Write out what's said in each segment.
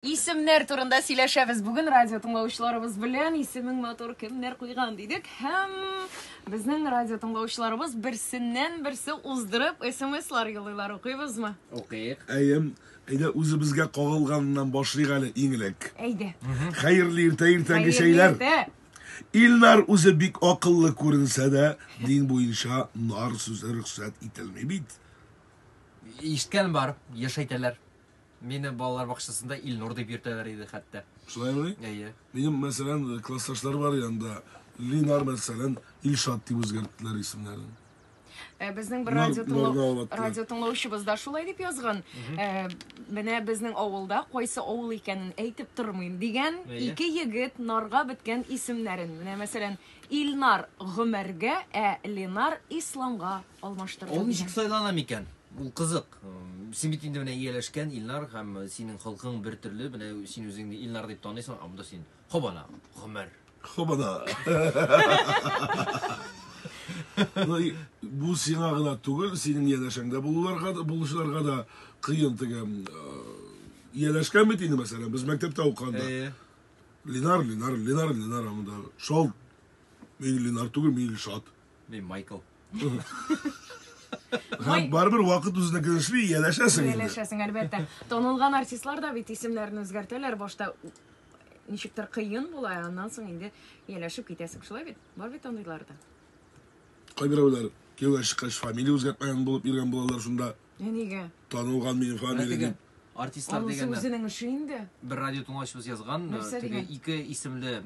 Исемнәр турында сөйләшәбез бүген радио тыңлаучыларыбыз белән. Исемең матур кемнәр куйган дидек һәм безнең радио тыңлаучыларыбыз берсеннән-берсе уздырып смслар юллыйлар. Укыйбызмы? Укыйк. Әйе. Әйдә үзебезгә кагылганнан башлыйк әле иң элек. Әйдә. Хәерле иртә, иртәнге чәйләр. Илнар үзе бик акыллы күренсә дә, дин буенча нар сүзе рөхсәт ителми бит. Ишеткән бар, еш әйтәләр. Мине балалар бакчасында Илнур дип йөртәләр иде хәтта. Шулаймыни? Әйе. Минем, мәсәлән, классташлар бар янда. Линар, мәсәлән, Илшат дип үзгәрттеләр исемнәрен. Э, безнең бер радио тыңлау радио тыңлаучыбыз да шулай дип язган. Э, менә безнең авылда кайсы авыл икәнен әйтеп тормыйм дигән ике егет нарга беткән исемнәрен. Менә мәсәлән, Илнар Гомәргә, ә Ленар Исламга алмаштырды. Ул ничек сайлана микән? Ул кызык. Син бит инде менә ияләшкән Илнар һәм синең холкың бер төрле. Менә син үзеңне Илнар дип таныйсың, ә монда син Хобана, Гомәр. Хобана. Бу сиңа гына түгел, синең ияләшәңдә булуларга да, булучыларга да кыен теге ияләшкән бит инде мәсәлән, без мәктәптә укыганда. Ленар, Ленар, Ленар, Ленар, монда шал. Мин Ленар түгел, мин Илшат. Мин Майкл. Һәм барыбер вакыт үзенә килешли ияләшәсең инде. Ияләшәсең, әлбәттә. Танылган артистлар да бит исемнәрен үзгәртәләр. Башта ничектер кыен була, ә аннан соң инде ияләшеп китәсең. Шулай бит? Бар бит андыйлар да. Кайберәүләр кияүгә чыккач фамилия үзгәртмәгән булып йөргән булалар шунда. Ә нигә? Танылган минем фамилия дип. Артистлар дигәннәр. Анысы үзенең эше инде. Бер радио тыңлаучыбыз язган, теге ике исемле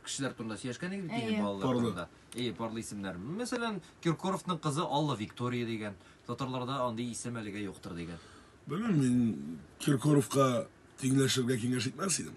кешеләр турында сөйләшкән идек бит инде балалар турында. Әйе, парлы исемнәр. Мәсәлән, Киркоровның кызы Алла Виктория дигән. Татарларда андый исем әлегә юктыр дигән. Белмим, мин Киркоровка тиңләшергә киңәш итмәс идем.